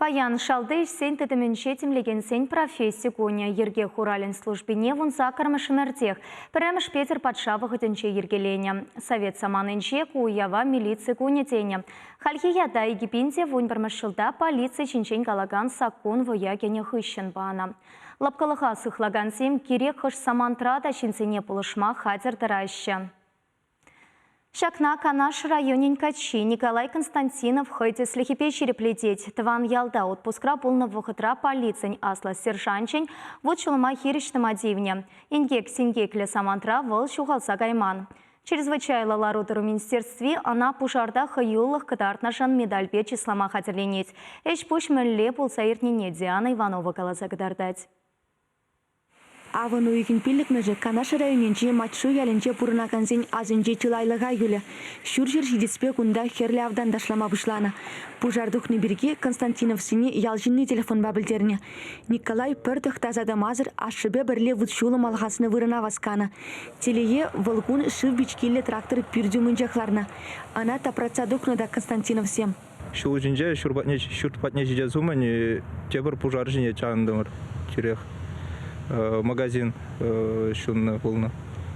Паян шалти ӗҫсен тытӑмӗнче тимлекенсен професси кунӗ. Йӗрке хуралӗн службине вун саккӑрмӗш ӗмӗртех пӗрремӗш Петӗр патша вӑхӑтӗнче йӗркеленӗ. Совет саманинче ку уява милици кунӗ тенӗ. Хальхи ята Египенте вун пӗрмӗш ҫулта полици ҫинчен калакан саккун вӑя кӗнӗ хыҫҫӑн панӑ. Лӑпкӑлӑха сыхлакансем кирек хӑш самантра та ҫынсене пулӑшма хатӗр тӑраҫҫӗ. Ҫакна Канаш районӗн каччи Николай Константинов хӑй тӗслӗхӗпе ҫирӗплетет. Тӑван ялта отпускра пулнӑ вӑхӑтра полицин аслӑ сержанчӗн вут-ҫулӑма хирӗҫ тӑма тивнӗ. Инкек-синкеклӗ самантра вӑл ҫухалса кайман. Чрезвычайлӑ лару-тӑру министерстви ӑна пушарта хӑюлӑх кӑтартнӑшӑн медальпе чыслама хатӗрленет. Ӗҫ-пуҫ мӗнле пулса иртнине Диана Иванова каласа кӑтартать. Авӑн уйӑхӗн пиллӗкмӗшӗ Канаш районӗнчи Матьшу ялӗнче пурӑнакансен асӗнче чылайлӑха юлӗ. Ҫурҫӗр ҫитӗспе кунта хӗрлӗ автан ташлама пуҫланӑ. Пушар тухни пирки Константиновсене ял ҫынни телефонпа пӗлтернӗ. Николай пӗр тӑхтаса тӑмасӑр ашшӗпе пӗрле вут-ҫулӑм алхаснӑ вырӑна васканӑ. Телее, вӑл кун шыв пичкиллӗ трактор пӳрт умӗнчех ларнӑ. Ӑна тапратса тухнӑ та Константиновсем. Ҫул ҫинче ҫурт патне, ҫурт патне ҫитес умӗн тепӗр пушар ҫине чавӑнтӑмӑр тӳрех. Магазин ҫуннӑ пулнӑ.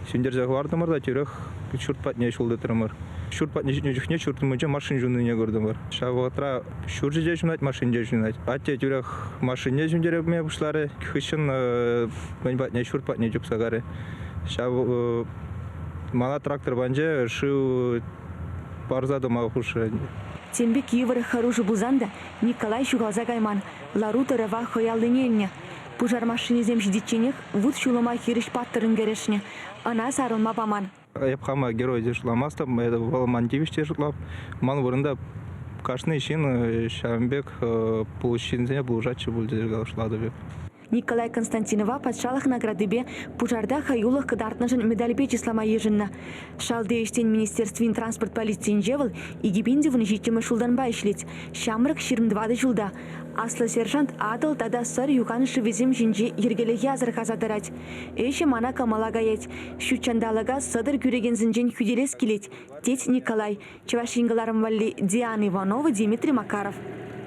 Ҫӗнтерсе хӑвартӑмӑр та тӳрех ҫурт патне ҫул тытрӑмӑр. Ҫурт патне ҫитнӗ чухне ҫурт умӗнче машин ҫуннине куртӑмӑр. Ҫав вӑхӑтра ҫурчӗ те ҫунать, машин те ҫунать. Атте тӳрех машинне ҫӳнтерме пуҫларӗ, хыҫҫӑн мӗн патне, ҫурт патне чупса карӗ. Ҫав мана трактор панчӗ, шыв парса тӑма хушрӗ. Тем пек йывӑр хӑрушӑ пулсан та Николай ҫухалса кайман, лару-тӑрӑва хӑй аллине илнӗ. Пушар машинисем ҫитичченех вут-ҫулӑма хирӗҫ паттӑррӑн кӗрешнӗ, ӑна сарӑлма паман. Эп хама герой те шутламастӑп, это вӑл ман тивӗҫ те шутлап. Ман вырӑнта кашни ҫын ҫавӑн пек пулӑҫ ҫынсене пулӑшатчӗ пуль тесе шутлатӑп эп. Николай Константинова патшалӑх наградипе пушарта хӑюлӑх кӑтартнӑшӑн медальпе чыслама йышӑннӑ. Шалти ӗҫсен министерствин транспорт полицийӗнче вӑл икӗ пин тӑвӑн ҫиччӗмӗш ҫултанпа ӗҫлет. Ҫамрӑк ҫирӗм тӑватӑ ҫулта аслӑ сержант Атӑл тата Сӑр юхан шывӗсем ҫинче йӗркелӗхе асӑрхаса тӑрать. Ӗҫӗ мана кӑмӑла каять. Ҫут ҫанталӑка сӑтӑр кӳрекенсенчен хӳтӗлес килет, тет Николай, Чӑваш Ен кӑларӑм валли Диана Иванова, Дмитрий Макаров.